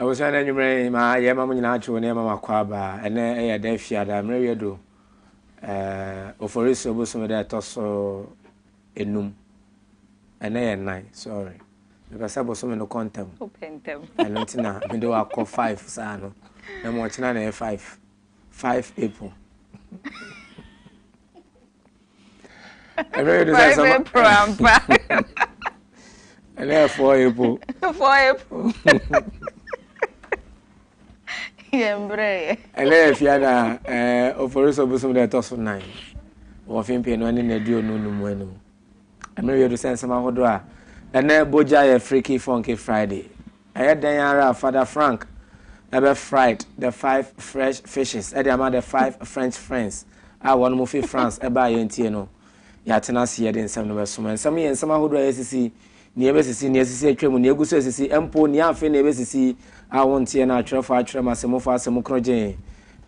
ɛwosɛ na anwummerɛ ma yɛ ma mo nyinaa atwe wo ne ɛma makɔ aba ɛnɛ ɛyɛ dɛ fiada mmerɛ wiɛ do oforisi obosome dɛ ɛtɔ so enum ɛnɛ yɛ nan sorry mepɛ sɛ bosome no kɔ ntam ɛno nti na mede wakɔ five saa no na mmɔkyena na ɛyɛ five Five April. Ɛbɛyɛ de sɛ sama. Five April ampa. Ɛnna yɛ four April. Four April. Yɛ mbrɛ yɛ. Ɛnna yɛ fia na ɛɛ ofori so bosom na ɛtɔ so nan. Wɔfin pii no ɛne na aduonu no mu anum. Ɛmmerɛ yi adu sɛ nsɛm ahodoɔ a ɛnɛ bɔ gya yɛ Freaky Funky Friday. Ɛyɛ dɛn ara a Father Frank bɛ fried the five fresh fishes de ama the five French friends a wɔn mo fi France baa yɛn tie no. Yɛatena ase yɛde nsɛm no bɛsom. Nsɛm yɛ nsɛm ahodoɔ a yɛsisi nea ɛbɛsisi, nea asisi atwam, nea agu so resisi, mpo nea afei na ɛbɛsisi a wonteɛ no atwerɛfo atwerɛ ma sɛ momfa asɛm korɔ gyen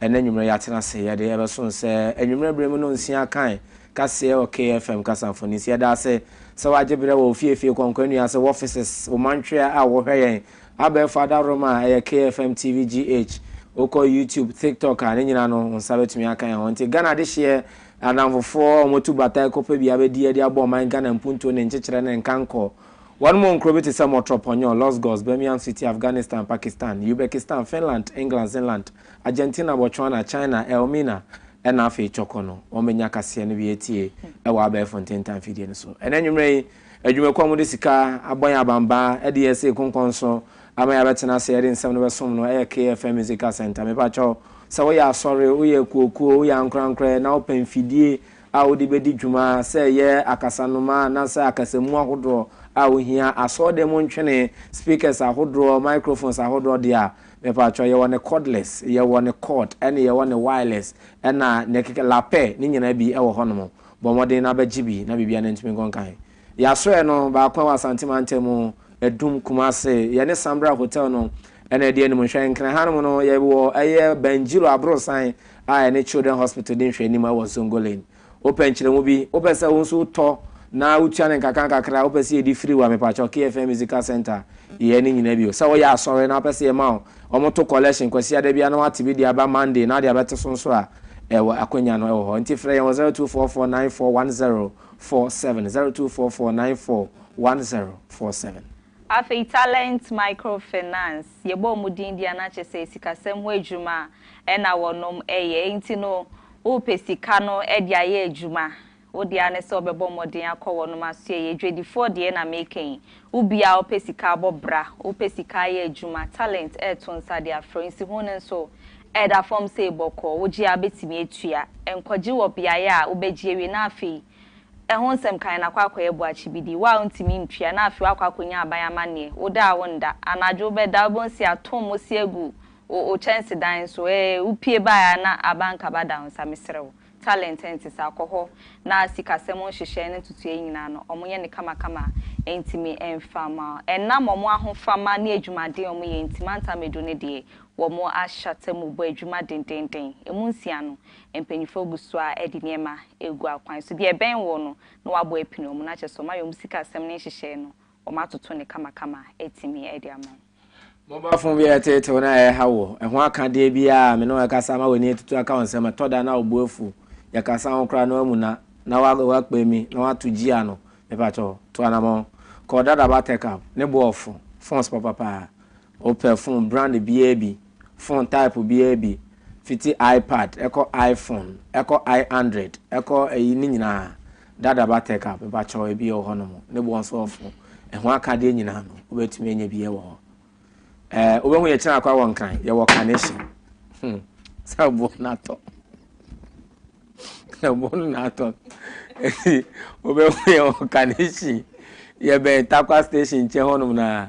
ɛnnɛ anwummerɛ yɛatena ase yɛde ɛbɛso sɛ anwummerɛ berɛ mu no nsia akan kaseɛ wɔ KFM kasa mfoni so. Yɛda ase sɛ woagye berɛ wɔ ofiefie kɔnkɔnua ase wɔ offices wo mantwea a wohwɛ yɛn abɛɛfo adaworoma a ɛyɛ KFM TV GH wokɔ YouTube, TikTok a ne nyina no wo nsa bɛtumi aka yɛn ho. Nti Ghana adehyeɛ Adamfofoɔ a wɔtu batae kɔpɛ bea bɛdiiɛ de abɔ ɔman Ghana mpuntuo ne nkyekyerɛ ne nkankɔ. Wɔn mu nkuro bi te sɛ Mɔtrɔ Pɔnyɔ, Los Gos, Birmingham City, Afghanistan, Pakistan, Ubekistan, Finland, England, Zinland, Argentina, Botswana, China, Elmina, ɛna afei Cɔkɔ no. Wɔbɛnya kaseɛ no bi atie wɔ abɛɛfo ntentan fidie no so ɛnnɛ anwummerɛ yi. Adwumakuo a wɔde sika abɔ yɛn abanbaa de yɛn asi ekonkɔn so ama yɛabɛtena ase de nsɛm no bɛsom no yɛ KFM Musical Centre. Mepakyɛ wo, sɛ woyɛ asɔre, woyɛ akuokuo, woyɛ ankorankorɛ na wopɛ mfidie a wode bɛdi dwuma, sɛ ɛyɛ akasanoma anaasɛ akasamu ahodoɔ a wohia, asɔɔdan mu ntwene, speakers ahodoɔ, microphones ahodoɔ deɛ a, mepakyɛ wo, yɛwɔ ne cordless, yɛwɔ ne cord, ɛne yɛwɔ ne wireless, ɛna ne keke, lapɛ, ne nyinaa bi wɔ hɔnom. Bɔ mmɔden na bɛgye bi na biribiara ntumi nkɔ nkan. Yɛ asoɛeɛ no baako wɔ Asante mantamu, Adum, Kumase. Yɛne Sambra Hotel no na ɛdi anim. Nhwɛ nkran ha nom no, yɛwɔ ɛyɛ Banjiro aborosan a ɛne Children Hospital di nhwɛanim ɛwɔ Zongo Lane. Wopɛ nkyerɛmu bi? Wopɛ sɛ wo nso wotɔ na wotua no nkakrankakra a? Wopɛ sɛ yɛdi firi wo a, mepakyɛw, KFM Musical Centre, yɛ ne nyinaa bio. Sɛ woyɛ asɔre na wopɛ sɛ yɛma wo Wɔn to collection kwasiada biara na wate bi de aba Monday na de abɛto so nso a ɛwɔ akwanya no ɛwɔ hɔ nti frɛ yɛn wɔ zero two four four nine four one zero four seven zero two four four nine four one zero four seven. Afei Talent Micro Finance yɛbɔ wɔn din deɛ na kyɛ sɛ sikasɛm ho adwuma na wɔnom ɛyɛ nti no wopɛ sika no de ayɛ adwuma Wo dea ne sɛ wobɛbɔ mmɔden akɔ wɔnom asoɛeɛ, adwadifoɔ deɛ na meeka yi, wo biaa wopɛ sika abɔ bra, wopɛ sika ayɛ adwuma, talent reto nsa de afrɛ wo, nsiho no nso ɛda fam sei bɔkɔɔ, wogye a wobɛtumi atua, nkɔgye wɔ beaeɛ a wobɛgye awie na afei ɛho nsɛm kan na kɔ akɔyɛ boakye bi di, wo a wontumi ntua na afei woakɔ akɔnya aban amanneɛ, wo da a wonda, anadwo wobɛda wobɛhu sɛ yɛato mmosea agu wo kyɛnsedan so, ee wopue baeɛ a na abankaba da wo nsa, mesrɛ wo. Talent nte saa, kɔ hɔ na sikasɛm nhyehyɛe no ntotoeɛ nyinaa no, wɔyɛ no kamakama a, ɛntumi mfa mma wo. Ɛnam wɔn ahofama ne adwumaden a wɔyɛ nti, mantam edu no deɛ, wɔahyata mu bɔ adwuma dendeenden. Emu nsia no, mpanimfoɔ gu so ara de nneɛma regu akwan so. Deɛ ɛbɛn wɔn no, na wɔabɔ apini wɔn, na kyerɛ sɛ wɔayɛ wɔn sikasɛm no nhyehyɛe no, wɔatoto no kamakama atumi de ama wo. Mobile phone bi a ɛteetew na ɛrehaw wo. Ɛho akadeɛ bi a me ne wo rekasa ma w'ani atutu aka wo nsam. Ɛtɔ da na wo bo afu. Yɛkasa ho koraa na woamuna, na woakpa mi, na woato gyiya no. Mepakyɛ wo, tu anamɔn. Kɔ wo dada buttercup. Ne bo ɔfo. Phones papa paa. Wopɛ phone brand biara bi, phone type biara bi, fiti iPad, ɛkɔ iPhone, ɛkɔ iAndroid, ɛkɔ ayi, ne nyinaa. Dada ba Tech app mepa kyɛw ebi wɔ hɔ no mo ne boɔ nso ɔfo ɛho akadeɛ nyinaa no wo bɛ tumi anya bie wɔ hɔ ɛɛ wo bɛ ho yɛ kyerɛ akwa wɔ nkran yɛ wɔ carnation hmm sɛ boɔ no atɔ sɛ boɔ no na atɔ eti wo bɛ ho yɛ wɔ carnation yɛ bɛn takwa station nkyɛn hɔ nom na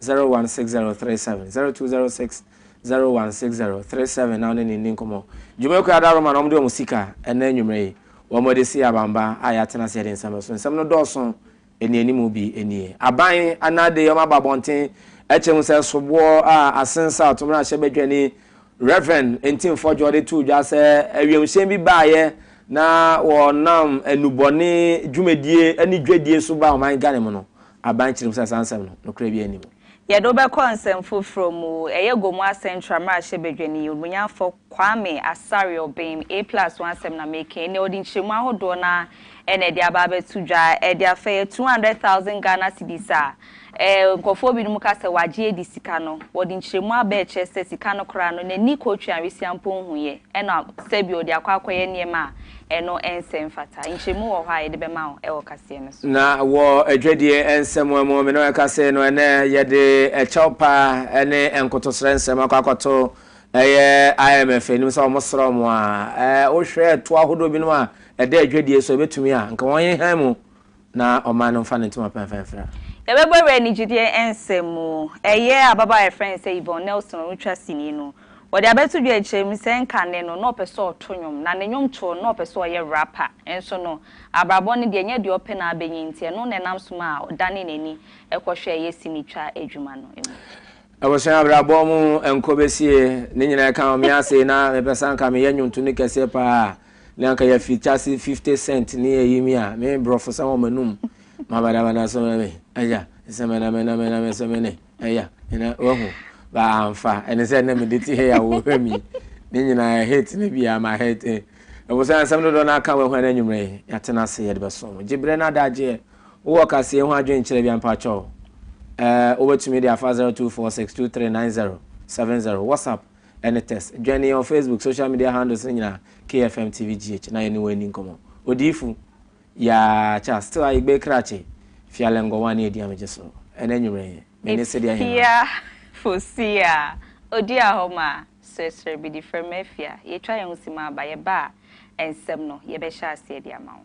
016037 0206016037 na wo ne no nni nkɔmmɔ. Dwumakuo Ada Roma na wɔde wɔn sika ɛnɛ anwummerɛ yi, wɔde sii abanba a yɛatena ase yɛde nsɛm so. Nsɛm no dɔɔso, nnianimu bi nie. Aban anaa de wɔn aba abɔnten ɛkyɛ hu sɛ soboɔ a asensa a ɔtomrahyɛ badwani Rev. Ntim Fɔdwoɔ de too dwa sɛ awiemhyɛn bi baeɛ na wɔnam nnubɔne dwumadie ne dwadie so baa ɔman Ghana mu no Aban kyerɛ mu sɛ saa nsɛm no, nokorɛ biara nni mu. Yɛde wo bɛkɔ nsɛm foforɔ mu. Ɛyɛ Gomoa Central mmarahyɛbadwani, Obunyafo Kwame Asare-Obeng, A plus ho asɛm na mereka yi. Nea ɔde nkyerɛmu ahodoɔ no ara na ɛde aba abɛto dwa. Ɛde afa ɛyɛ two hundred thousand Ghana cedis a nkurɔfoɔ binom ka sɛ wɔagye adi sika no. Ɔde nkyerɛmu aba ɛkyerɛ sɛ sika no koraa no, n'ani kɔtwe anwesia mpo nhuiɛ, ɛna sɛbi ɔde akɔ akɔyɛ nneɛma a Ɛno nsɛ mfata. Nkyerɛmu wɔ hɔ a yɛde bɛma wo wɔ kaseɛ no so. Na wɔ Adwadie nsɛmmoa mu, me ne wo rekasa no ɛnnɛ, yɛde ɛkyɛw pa ne nkotosrɛ nsɛm akɔ akɔto ɛyɛ IMF anim sɛ wɔn srɛ wɔn a, wohwɛ ɛtoɔ ahodoɔ binom a ɛda adwadie so a ɛbɛtumi a, nka wɔn nhan mu Na ɔmmaa no mfa ne ntoma pa mfa mfira. Yɛbɛbɔ awura anigyedeɛ nsɛm mu. Ɛyɛ ababaawa a yɛfrɛ no sɛ Yvonne Nelson a ɔretwa sini no. Wɔde abɛto dwa akyire mu sɛ nka nnɛ no na ɔpɛ sɛ ɔto nnwom, na ne nnwomtoɔ no na ɔpɛ sɛ ɔyɛ rapper. Nso no, abrabɔ no deɛ ɛnyɛ deɛ ɔpɛ na abɛnya enti ɛno na ɛnam so maa ɔdanee n'ani kɔhwɛɛ ɛyɛ sinitwa adwuma no mu. Abusua, abrabɔ mu nkɔ bɛsie, ne nyinaa ɛka ho. Me ase na mepɛ sɛ anka meyɛ nnwontooni kɛseɛ pa ara. Ne anka ya fi chase 50 cent ne ya yimi a me brofo sa wɔn anum ma bada bada so me aya sɛ me na me na me na me sɛ me ne aya na wahu ba amfa ɛne sɛ na me de ti he ya wo hwɛ mi ne nyina hate ne bia ma hate eh. ɛwɔ sɛ asɛm dodo na aka wɔn hwɛ anwumre ya tena ase yɛ de bɛso mo gyebrɛ na adagye wɔ kaseɛ ho adwen kyerɛ bia mpakyɛw eh wobɛtumi de afa 0246239070 whatsapp Ɛne Tess. Dwene yɛn wɔ Facebook social media handles no nyinaa, KFM TV GH, na yɛne wo ani nkɔmmɔ. Odiyifo, Yaa Charles, Still Ayigbe Krachi, Fialengor One ne Ediamegye so. Ɛna anwummere yi, me ne Sidi Aheman. Ifia fo Sia, Odi Ahoma, Sresre Bidifrem Afia, yɛatwa yɛn ho si mu aba. Yɛba a, nsɛm no, yɛbɛhyɛ aseɛ de ama wo.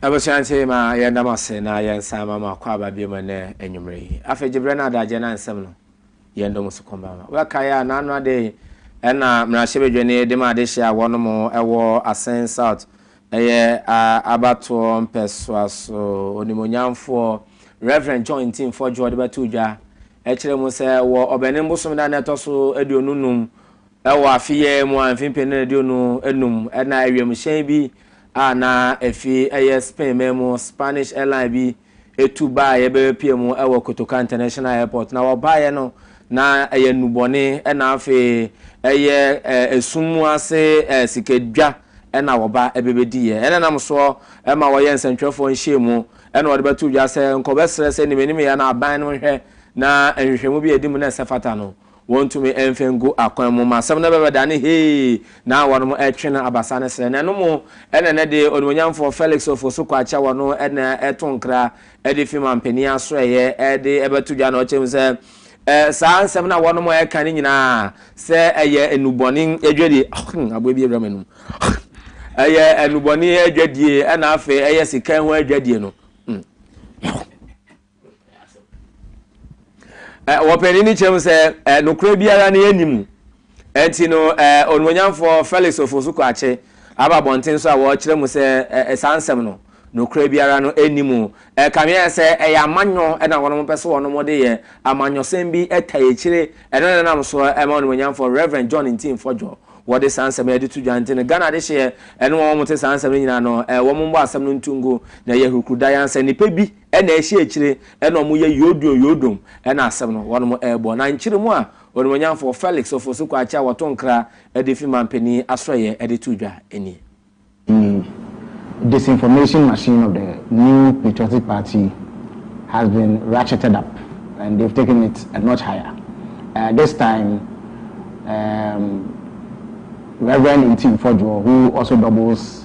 Abusua ntsi ma yɛnda mo ase na yɛnsan ma mo akwaaba bio ma ndɛ enyimber yi. Afei Gyeberɛ na Adagyeɛ na nsɛm no yɛn dɔ mu so kɔmba ma. Wobɛkae a, naano ada yi na Mmarahyɛbadwani de ma adehye a wɔnom wɔ Asen South yɛ abatoɔ mpɛsoa so Onimuonyamfoɔ Rev. John Ntim Fodjour de bɛtoo dwa kyerɛ mu sɛ wɔ Ɔbɛnem bosome da no ɛtɔ so aduonu num Wɔ afe yi ara mu a mfe mpenu aduonu anum na wiemhyɛn bi a na efi ɛyɛ Spain man mu, Spanish airline bi, tu baeɛ bɛbɛpue mu wɔ Kotoka International Airport. Na wɔbaeɛ no, na ɛyɛ nnubɔne na afei ɛyɛ esum mu ase sikadwa na wɔba bɛbɛdiiɛ. Ɛna nam soɔ ma wɔyɛ nsɛntwerɛfoɔ nhyiamu na wɔde bɛto dwa sɛ nkɔbɛsrɛ sɛ nimanimeɛ na aban no nhwɛ na nhwehwɛmu bi a ɛdi mu na ɛsɛ fata no. Wɔntumi mfe ngu akwan mu ma asɛm no bɛbɛda ne hee na wɔnom ɛtwe no abasa ne srɛ. Na ɛno mu ɛna ɛnɛ de Onimuonyamfoɔ Felix Ofosu-Kwakye a wɔno ɛna ɛto nkra ɛde fi Mampanin Asoɛeɛ ɛde ɛbɛto dwa na ɔkyerɛ mu sɛ saa nsɛm no a wɔnom ɛka no nyinaa sɛ ɛyɛ nnubɔne adwadie, aboa bi awura m'anum, ɛyɛ nnubɔne adwadie ɛna afei ɛyɛ sika ho adwadie no. Wɔpanin no kyerɛ mu sɛ nokorɛ biara no yɛnni mu. Ɛnti no onuonyamfoɔ Felix Ofosu Kwakye aba abɔnten so a wɔkyerɛ mu sɛ saa nsɛm no nokorɛ biara no nni mu. Ɛkameɛ sɛ ɛyɛ amanyɔ na wɔnom pɛ sɛ wɔnom de yɛ amanyɔsɛm bi ta akyire. Ɛno na ɛnam so ma onuonyamfoɔ Rev. John Ntim Fɔdwo wɔde saa nsɛm no de to dwa. Nti no Ghana adehyeɛ ne wɔn wɔn te saa nsɛm no nyinaa no wɔn mmɔ asɛm no nto ngu na ɛyɛ hurukuru dayansa. Nnipa bi Ɛna ɛhyɛ akyire ɛna wɔn yɛ yodun yodum ɛna asɛm no wɔn ɛɛbɔ na nkyere mu a Onimuonyamfoɔ Felix Ofosu Kwakye a wɔto nkra ɛde fi Manpanin Asoɛeɛ ɛde to dwa nie. The disinformation machine of the New Patriotic Party has been ratcheted up and they've taken it a notch higher. Uh, this time, um, Reverend Ntim Fodwo, who also doubles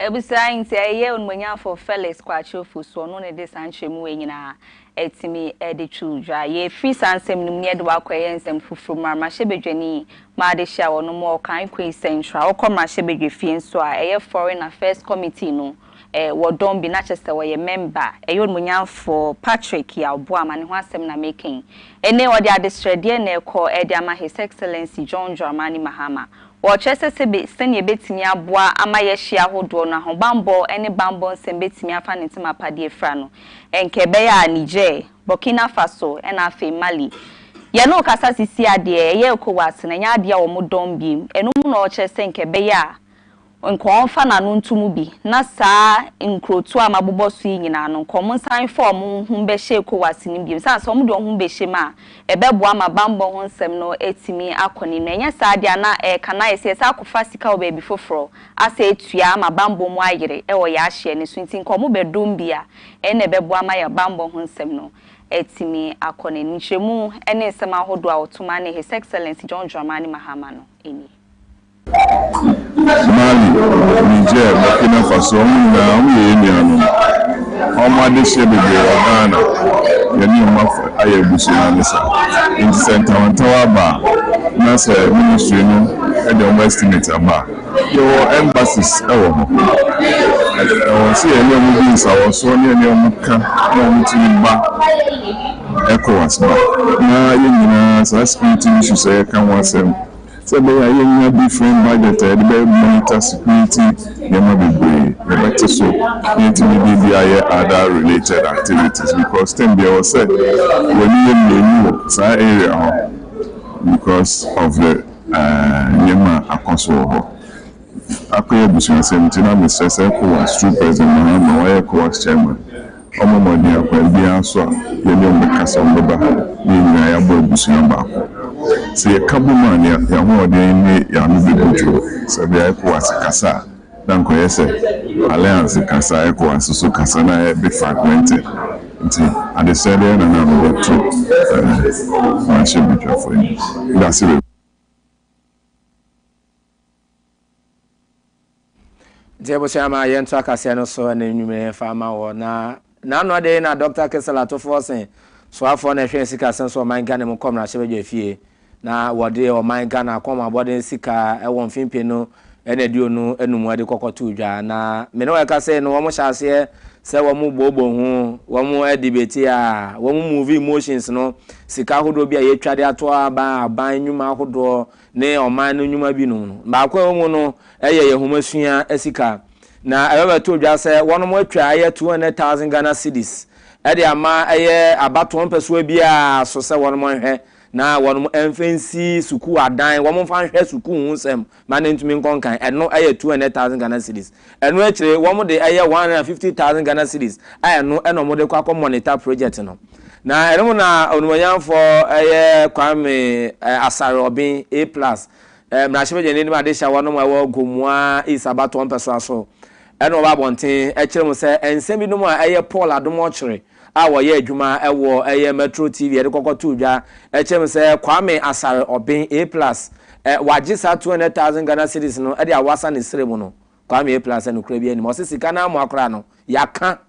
Abusua nti ɛyɛ Onumuonyamfo Felix Kwakye Ofosu ɔno na ɔde saa nkyerɛmu wei nyinaa atumi de to dwa. Yɛfiri saa nsɛm no mu na yɛde wo akɔ ɛyɛ nsɛm foforɔ mu, Mmarahyɛbadwani M'adehyia ɔno ma ɔkan Kwei Central, wokɔ Mmarahyɛbadwafie nso a ɛyɛ Foreign Affairs Committee no eh, wɔ dɔm bi na kyɛ sɛ ɔyɛ mɛmba. Ɛyɛ onimuonyamfoɔ Patrick Yaw Boamah ne ho asɛm na mereka yi. Ene ɔde adesrɛdeɛ na ɛrekɔ eh, de ama His Excellency John Dramani Mahama. Ɔrekyerɛ sɛ sɛbe sɛnea ɛbɛtumi aboa ama yɛhye ahodoɔ no, ahobanbɔ ne banbɔ nsɛm bɛtumi afa ne ntem apadeɛ afira no. Nka ɛbɛyɛ a Niger, Burkina Faso ɛna afei Mali. Yɛne wo kasa sisi adeɛ ɛyɛ Ecowas no, ɛnyɛ adeɛ a wɔn dɔm biem. Ɛno mu na ɔrekyerɛ sɛ nka ɛbɛyɛ a. Nka ɔmfa n'ano nto mu bi, na saa nkurotoɔ a mabobɔ so yi nyinaa no, nka wɔn nsan mfa wɔn ho mmɛhyɛ ECOWAS no mu bio. Ɛsiane sɛ wɔde wɔn ho bɛhyɛ mu a, ɛbɛboa ma bammɔ ho nsɛm no atumi akɔ n'anim. Na ɛnyɛ saa deɛ a, na ɛreka no ayɛ sɛ yɛsan akɔfa sika wɔ baabi foforɔ asɛ atua ama bammɔ mu ayere wɔ yɛn ahyeɛ no so. Nti nka wɔbɛdom bi a, ɛno na ɛbɛboa ama yɛn bammɔ ho nsɛm no atumi akɔ n'anim. Nkyerɛmu ne nsɛm ahodoɔ a Ottoman ne His Excellency John Dramani Mahama no nie. Mali, Niger, Burkina Faso ɔmo nyinaa ɔmo yɛ yɛn nuanom. Ɔmo adehyeɛ bebree wɔ Ghana, yɛne ɔmo afa ayɛ abusua ne sa. Nti sɛ ntawantawa aba a na sɛ ministry no de ɔmo estimate aba a. Yɛwɔ embassies wɔ hɔ. Ɛwɔ sɛ yɛne ɔmo di nsawɔsoɔ na yɛne ɔmo ka na ɔmo tumi ba Ecowas ba. Na yɛn nyinaa saa security issues a yɛka ho asɛm. Sɛ ɛbɛyɛ a yɛanya different budget a yɛde bɛ monitor security nneɛma bebree, yɛbɛte so na yɛatumi de bi ayɛ other related activities because term biara ɛwɔ sɛ w'ani yɛ mmienu wɔ saa area hɔ because of the nneɛma a akɔ so wɔ hɔ. Akoya abusuasɛm nti na mesrɛ sɛ Ecowas true president Mahama wayɛ Ecowas chairman ɔmmɔ mmɔden akwan biara so a yɛne wɔn bɛka sɛ wɔbɛba ha na yɛn nyinaa yɛabɔ abusua baako. Sɛ yɛka bom a na yɛn ahoɔden ne yɛn ano bɛbu dwoɔ. Sɛbea Ecowas kasa a na anka ɔyɛ sɛ alliance kasa a Ecowas nso kasa na ayɛ be fragmented nti adesrɛ bɛyɛ na na ano bɛto mmarahyɛbadwafoɔ yi. Medase bebree. Nti abusua ma yɛnto akaseɛ no so ɛna nnwuma yɛn fa ama wɔ na n'ano de na Dɔkta Kisel atofoɔ se soafoɔ na ɛhwɛ sikasɛm so ɔman Ghana mu kɔ mmarahyɛbadwa fie na wɔde ɔman Ghana akɔm abɔden sika ɛwɔ mfimpe no ɛna aduonu enum ɛde kɔkɔto dwa na mene wɔ ɛka sei no wɔn hyɛ aseɛ sɛ wɔn booboo ho wɔn ɛdebeti a wɔn move emotions no sika ahodoɔ bi a yɛtwa de ato aban aban nnwuma ahodoɔ ne ɔman no nnwuma binom no. Baako a ɛwɔ mu no yɛ yɛn nhomasua sika, na ɛbɛbɛtoo dwa sɛ wɔnom atwa ɛyɛ two hundred thousand Ghana cedis de ama ɛyɛ abatoɔ mpɛsoa biara so sɛ wɔnom nhwɛ na wɔnom mfa nsi sukuu adan, wɔmfa nhwɛ sukuu ho nsɛm ma no ntumi nkɔ nkan, ɛno yɛ two hundred thousand Ghana cedis. Ɛno akyire wɔn de ɛyɛ one hundred and fifty thousand Ghana cedis a ɛno na wɔn de kɔ akɔ monitor project no. Na ɛno mu na Onimuonyamfoɔ ɛyɛ Kwame eh, Asare Obin A plus eh, mmarahyɛbadwani ne adehyɛwɔ nom a ɛwɔ Gomoa East abatoɔ mpɛsoa so ɛna wɔba abɔnten ɛkyerɛ mu sɛ nsɛm binom a ɛyɛ Paul Adom Ɔkyere a wɔyɛ adwuma wɔ ɛyɛ Metro TV ɛde kɔkɔ too dwa ɛkyɛm sɛ Kwame Asare Oben A plus ɛ wagye saa two hundred thousand Ghana cedis no ɛde awasa ne srɛ mu no Kwame A plus ɛ no kura bi anim ɔse sika no amoa koraa no yaka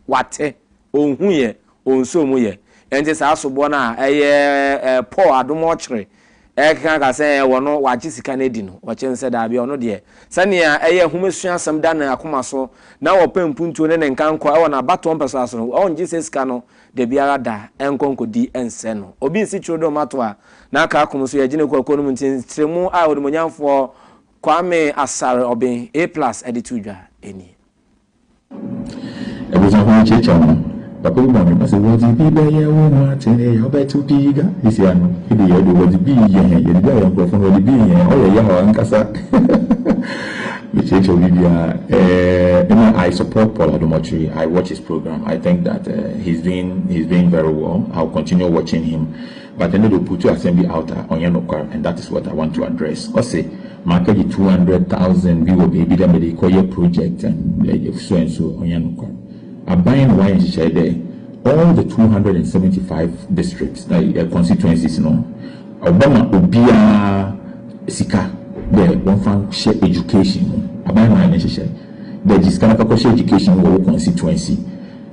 wate onhu yɛ onsoo mu yɛ ɛnti saa soboɔ no a ɛyɛ ɛ Paul Adom ɔkyere Ɛkeka ka sɛ wɔ no wagye sika no adi no, wɔkyerɛ no sɛ daabi, ɔno deɛ, sɛnea ɛyɛ nhomasua asɛm da ne akoma so na ɔpɛ mpuntuo ne ne nkankɔ wɔ n'abatoɔ mpɛsoa so no, ɔngye sɛ sika no dabiara da nkɔ nkɔdi nsɛ no. Obi nsi twerɛdɔm mmatoɔ a na aka akom nso yɛgye no kɔ akuo no mu nti ntrɛmu a Onimuonyamfoɔ Kwame Asare Obeng, A plus, de to dwa nie. Ebusuafo no kyiakyia no, papa yi bɔ no bra sɛ, Wɔdze bi bɛyɛ wo ho atsɛnee a ɔbɛtsew pii ga esi ano. Ede yɛɛ do, wɔdze bi yɛ hɛn, yɛdze bi ayɛ nkorɔfo na wɔdze bi yɛ hɛn. Ɔyɛ yaw ankasa. Mekyiakyia wo biribiara. Eh, emi I support Paul Adomotwi, I watch his program, I think that eh, he's doing, he's doing very well, I'll continue watching him. But ɛno de ɔputu asɛm bi out a ɔnyɛ nokwar and that is what I want to address. Ɔse makɛgye two hundred thousand bi wɔ beebi dɛ mede kɔyɛ project and so and so, ɔnyɛ nokwar. Aban no wɔayɛ nhyehyɛe dɛ all the two hundred and seventy five districts ɛɛ constituencies no wɔbɛma obiara sika dɛ wɔmfa nhyɛ education mu. Aban no ayɛ ne nhyehyɛe dɛ gye sika na fa kɔhyɛ education mu wɔ wo constituency.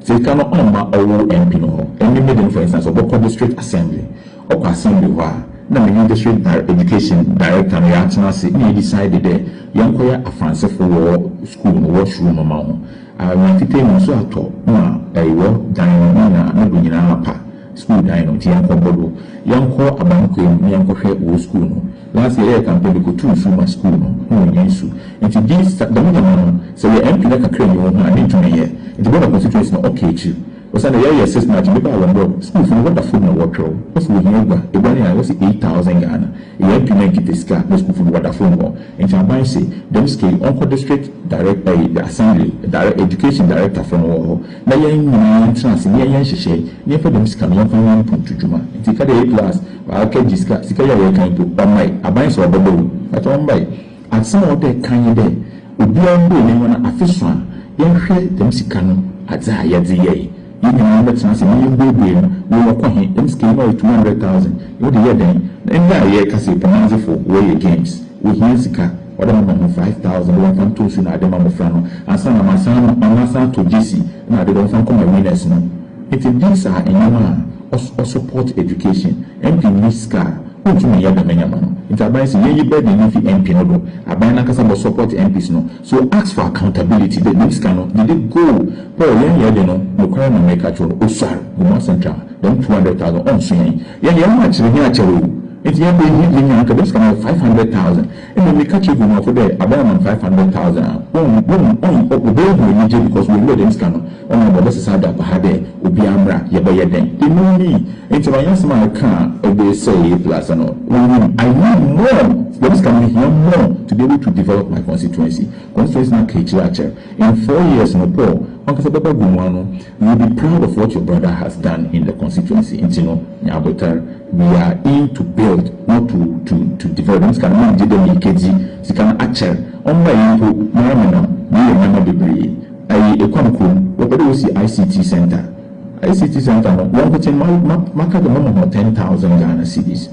Sika no ɔmma ɔwo MP no hɔ ɛne me den for instance ɔbɔkɔ district assembly ɔkɔ assembly hɔ a na me ne district education director no yɛatena ase na yɛ decide dɛ yɛnkɔyɛ afansefo wɔ school no wɔ sru no ma ho anwea fitaa mu nsu atɔ ma ɛwɔ dan no ne nyinaa ne do nyinaa apa school dan no nti yɛnkɔbɔ do yɛnkɔ abankwaa mu na yɛnkɔhwɛ wɔ school no Nancy yɛyɛ campaign me kotuu nsu ma school no ho nyɛ nsu nti di sa dɛm nyɛma no sɛ yɛ MP na kakra nni ho haa me ntumi nyɛ nti bɔ na constituency no ɔka akyi osiandɛ yɛ yɛ six na akyi me baa wɔn dɛ school fo no wɔ da fom na wɔ twɛw wɔ se wɔ hia agua agua no yɛ ae wɔ se eight thousand Ghana yɛ MP na nki pɛ sika na school fo no wɔ da fom hɔ nti aban se dɛm sika yi ɔnkɔ district direct ɛyi the assembly direct education director fo no wɔ hɔ na yɛn nyinaa yɛn tena ase ne yɛ yɛ nhyehyɛe ne yɛn fa dɛm sika no yɛn fa nyɛ mpuntu dwuma nti ka dɛ yɛ class Aka gye sika, sika yi a yɛrekan mpo ɔmmae, aban sɛ ɔbɛba o, but ɔmmae. Adze a ɔwɔdɛ kan nye dɛ obiara mbue n'enyiwa na afe so a yɛnhwɛ dɛm sika no adze a yɛdze yɛe, hɛn nyinara mbɛtsena ase na yembuebue no, wei ɔkɔ he, dɛm sika yi no ɔyɛ two hundred thousand, wɔdze yɛɛ dɛn? Na ndɛ a yɛrekasa yi Kumadzefo wɔreyɛ games, wohia sika, ɔwɔdɛ mema hɔn five thousand dɛ wɔmfa ntɔ nsu na adze mma mbofra no ansa na masan ama masan atɔ gyesi na adze dɛ wɔmfa nkɔma winners no, ntsi these are ndzɛmba a Ɔ support education. MP nni sika a, wontum nyɛ dɛm nyɛma no. Ntsi aban se yenyi burden no mfi MP no do. Aban no ankasa bɔ support MPs no. So ask for accountability dɛ dɛm sika no, gyede go. Paul, yɛn yɛ dze no, nokwar na mereka akyerɛ wo, osuar, Gomua Central, dɛm two hundred thousand, ɔnnso yɛn. Yɛn de, yɛn ho akyere, hɛn akyɛr o. Ntsi yɛn mba ehiadze nyi a, anka dɛm sika no yɛ five hundred thousand. Mbom meka kyerɛ Guineafo dɛ abɛyɛ aman five hundred thousand a wonnhu wonnhu ɔnn wobeehu enyigye because woewura dɛm sika no ɔnam dɛ wɔbɛsesa adwampaha dɛ obiara mbra yɛbɛyɛ dɛn emu nnyi ntsi ma nyɛasɛm a eka a ɔdze sɛɛ yɛ epilaasa no wonyim I need more dɛm sika no mehia more to be able to develop my constituency constituency no aka ekyir akyɛr in four years no Paul wankasa bɛba Guinewa no You will be proud of what your brother has done in the constituency nti no nya abotar, we are in to build not to to to develop, dɛm sika no menngye dɛ meekedzi sika no akyɛr, ɔmma iyi mpo mara menam meyɛ ndzɛmba beberee ae Ekwam kurom, wɔpɛ dɛ wosi ICT centre, ICT centre no wɔnkotsee ma ma maka dɛ mɛma hɔn ten thousand Ghana cedis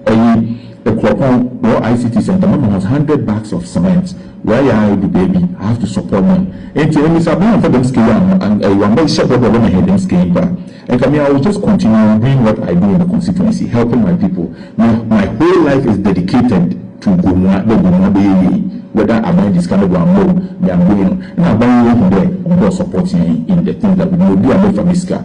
Eyi ekuropɔn wɔ ICT centre mama has hundred bags of cement wɔ yɛ a edu baabi I have to support them nti emi sɛ abaa nfa dɛm sika yi anho an ɛyi wa mɛ hyɛ bɔ dɛ wɔ mɛ hɛ dɛm sika yi mpo a nka me I will just continue doing what I do in the constituency helping my people me my whole life is dedicated to Gomua dɛ Gomua bɛ yɛ yie whether aban gye sika no do ama o me am doing no na aban yi ehu dɛ ɔmo wɔ supporting yɛn in the things that we do obi a mɛ fa me sika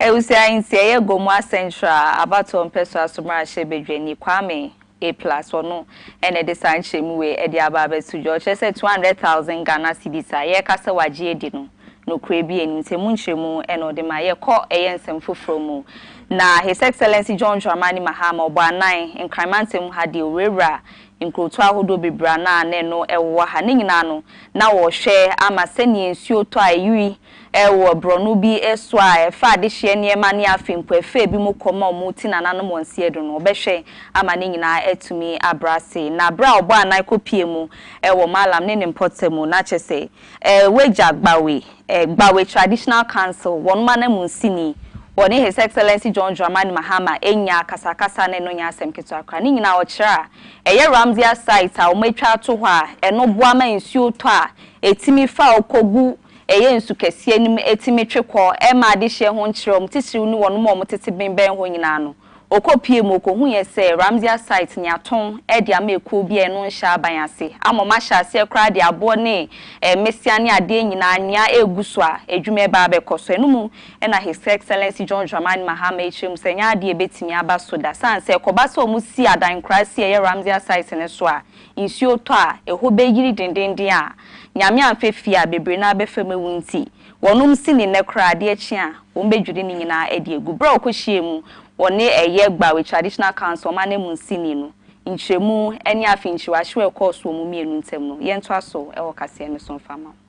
Awusia nsieyɛ gua mu asɛnkyerɛ a abatoɔ mpɛsoa so mmarahyɛ badwani Kwame A. Plus ɔno na ɛde saa nkyerɛmu wei ɛde aba abɛto dwa. Ɔkyerɛ sɛ 200,000 Ghana cedis a yɛreka sɛ wagye adi no, nokorɛ bi nnim sɛ emu nkyerɛmu na ɔde ma yɛ. Kɔ ɛyɛ nsɛm foforɔ mu na His Excellency John Dramani Mahama ɔbɔ anan Nkran mantam mu ha deɛ owurawura nkurotoɔ ahodoɔ bebree a na na ɛno ɛwowɔ ha ne nyinaa no na ɔrehwɛ ama sɛdeɛ nsuo tɔ a ɛyiri Wɔ borɔno bi so a ɛfa adehyeɛ nneɛma ne afe nkuafee bi mu kɔm a wɔreti nananom wɔn seɛ do no, wɔbɛhwɛ ama ne nyinaa atumi abrɛ ase. Na berɛ a ɔbɔɔ anan kɔpuee mu wɔ Mallam ne ne mpɔtam mu, na kyerɛ sɛ, W'agya Gbawe, Gbawe Traditional Council, wɔnom ananmusini, wɔne His Excellency John Dramani Mahama anya akasakasa na ɛno nyɛ asɛm ketewa koraa. Ne nyinaa a, ɔkyerɛ a ɛyɛ Ramsey Site a wɔatwa ato hɔ a, ɛno boa ma nsuo tɔ a ɛtumi fa kɔgu Ɛyɛ nsu kɛseɛ no mu ɛtumi twe kɔ ɛma adehyeɛ ho nkyerɛ wɔn titiriw ne wɔnom a wɔtete ben bɛn hɔ nyinaa no. Ɔkɔ pue mu ɔkɔhuiɛ sɛ Ramziah site no yɛatɔn de ama ɛkuo bi a ɛno nhyɛ aban ase ama wɔn ahyɛ aseɛ koraa de aboɔ ne mmesea ne adeɛ nyinaa nyia ɛregu so a adwuma ɛreba abɛkɔ so. Ɛno mu na His Excellency John Dramani Mahama kyerɛ mu sɛ ɛnyɛ adeɛ a ɛbɛtumi aba so da sane sɛ ɛkɔba sɛ wɔsi adan nkuraaseɛ a ɛyɛ Ramziah site no so a nsuo tɔ a, ɛhɔ bɛyiri dendeenden a, Nyame amfa fie a bebree no ara bɛfam awu nti, wɔnom si ne nnɛ koraa, adeɛ kye a, wɔbɛdwiri ne nyinaa adi agu. Berɛ a wɔkɔhyiaa mu wɔ ne ɛyɛ Gbawe Traditional Council, wɔn ananmusini no, nkyerɛmu ne afinkyiri wahyew a ɛkɔɔ so wɔn mmienu ntam no, yɛntoa so wɔ kaseɛ no so mfa mma wo.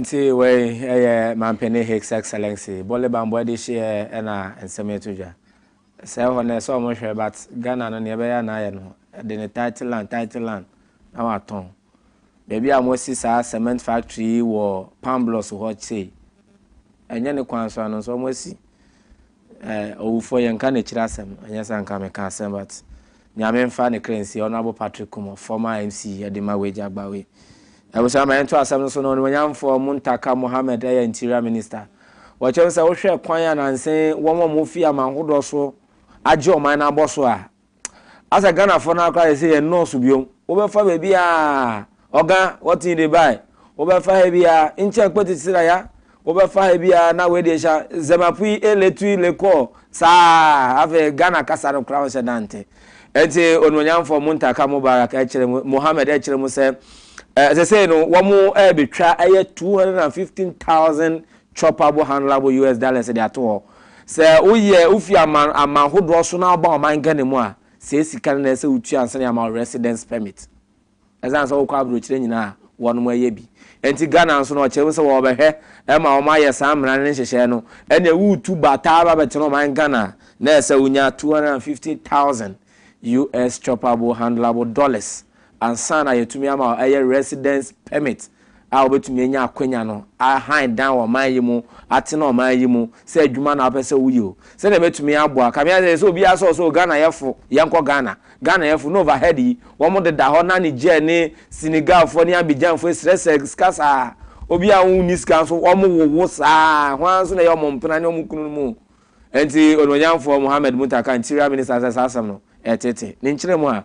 Nti wei ɛyɛ Mampene His Excellency Bole Bambɔ de hyeɛ na nsɛm yi to dwa. Sɛ hɔ no ɛsɛ ɔmo hwɛ but Ghana no nea ɛbɛyɛ na ayɛ no ɛde ne title land title land na watɔn. Baabi a wɔasi saa cement factory yi wɔ Pamblɔs hɔ sei ɛnyɛ ne kwan so ano nso wɔasi. Eh owufoɔ yɛnka n'akyiri asɛm ɛnyɛ sɛ anka meka asɛm but Nyame nfa ne kra nsie Honourable Patrick Kumor former MC ɛde ma wagya gba wei Abusua ma yɛnto asɛm no so na Onimuonyamfoɔ Muntaka Mohammed ɛyɛ Interior Minister wɔkyerɛ mu sɛ wohwɛ kwan a nanse wɔn a wɔfi aman hodoɔ so agye ɔman no abɔ so a Asɛ Ghanafoɔ no ara koraa yɛsɛ yɛn nnɔɔso biom. Wobɛfa baabi a ɔga wɔte yi de bae. Wobɛfa ha bi a nkyɛn kpɛti sira ya. Wobɛfa ha bi a na wei deɛ hyɛ zɛmapui eletui lekɔɔ saa afei Ghana kasa no koraa wɔhyɛ da nte. Ɛnti onuonyamfoɔ Muntaka Mubarak ɛkyerɛ mu Mohammed ɛkyerɛ mu sɛ ɛsɛ sɛ no wɔn ɛbɛtwa ɛyɛ 215,000 Chopable handleable US dollars de ato hɔ. Sɛ woyɛ wofi aman aman hodoɔ so na woba ɔman Ghana mu a, sei sika no na ɛsɛ sɛ wotua ansa na yɛama wo residence permit. Ɛsiane sɛ wokɔ abrokyire nyinaa a, wɔnom ɛyɛ bi. Ɛnti Ghana nso no ɔkyerɛ mu sɛ wɔbɛhwɛ ma wɔn ayɛ saa mmara no ne nhyehyɛɛ no. Ɛneɛ woretu ba taa ba bɛtena ɔman Ghana a, na ɛsɛ sɛ wonya 250,000 US chopable handleable dollars. ansa na yɛatumi ama ɛyɛ residence permit a wobɛtumi anya akwanya no ahan dan wɔ ɔman yi mu, atena ɔman yi mu, sɛ adwuma na wopɛ sɛ woyɛ o, sɛdeɛ ɛbɛtumi aboa. Ka measɛ sɛ obiara sɛ ɔsɛ o Ghanayɛfo, yɛnkɔ Ghana. Ghanayɛfo, na overhead yi, wɔn deda hɔ na Niger ne Senegalfoɔ ne Abidjanfoɔ ɛsrɛ sɛ sika saa. Obiara a ɔnni sika nso wɔn wowo saa, hwan nso na ɛyɛ wɔn mpena ne wɔn kununom o. Ɛnti Onuonyamfoɔ Mohammed Muntaka, Interior Minister sɛ saa asɛm no ɛtete. Ne nkyerɛmu a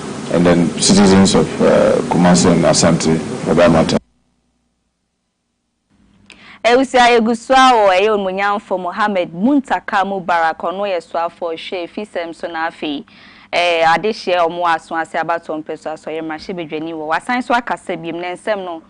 and then citizens of Kumasi and Asante for that matter. Awusia egu so a o, ɛyɛ Onmunyamfo Mohammed Muntaka Mubarak, ɔno yɛ soafo ɔhwɛ afisɛm so na afei ɛyɛ adehyeɛ ɔmoa aso ase abatoɔ mpɛsoa so ɔyɛ mmarahyɛbadwani wɔ, wasan so akasa biom, ne nsɛm no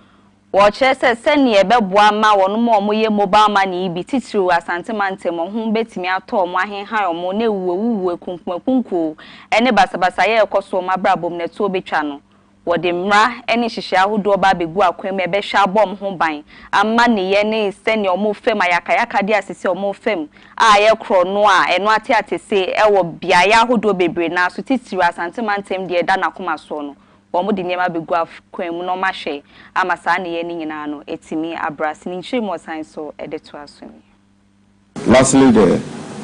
Wɔkyerɛ sɛ sɛnea ɛbɛboa ma wɔn a wɔyɛ mobile money yi bi titiriw Asante mantam hɔ ho betumi atɔ wɔn, ahenhan wɔn, na awuwuawuwu, akunkumakunkuo, ne basabasayɛ a ɛkɔ so wɔ wɔn abrabɔ mu no ɛtoɔ betwa no. Wɔde mmara ne nhyehyɛe ahodoɔ ba abegu akwan mu a ɛbɛhwɛ abɔ wɔn ho ban ama nneyɛɛ ne sɛnea wɔfam ayakayakadeɛ a seesei wɔfam a ayɛ korɔno a ɛno ate atese wɔ beaeɛ ahodoɔ bebree no ara so titiriw Asante mantam deɛ ɛda n'akoma soɔ no Wɔde nneɛma bɛgu akwan mu na wɔahwɛ ama saa nneyɛɛ no nyinaa no atumi abra ase. Ne nkyiri mu ɔsan so de toa so nie. Lastly the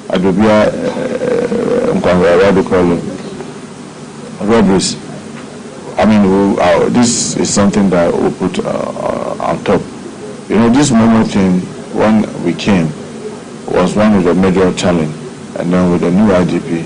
Adobia Nkwahorawa de kɔ no robberies I mean u uh this is something that u put uh on top you know this momo thing when we came was one of the major challenge and then with the new IGP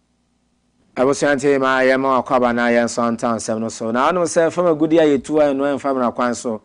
Abusua nti ma yɛmma akwaaba na yɛnsɔ antaa nsɛm no so. Na wonim sɛ fam agudeɛ a yɛtu a ɛnoa mfa mmara kwan so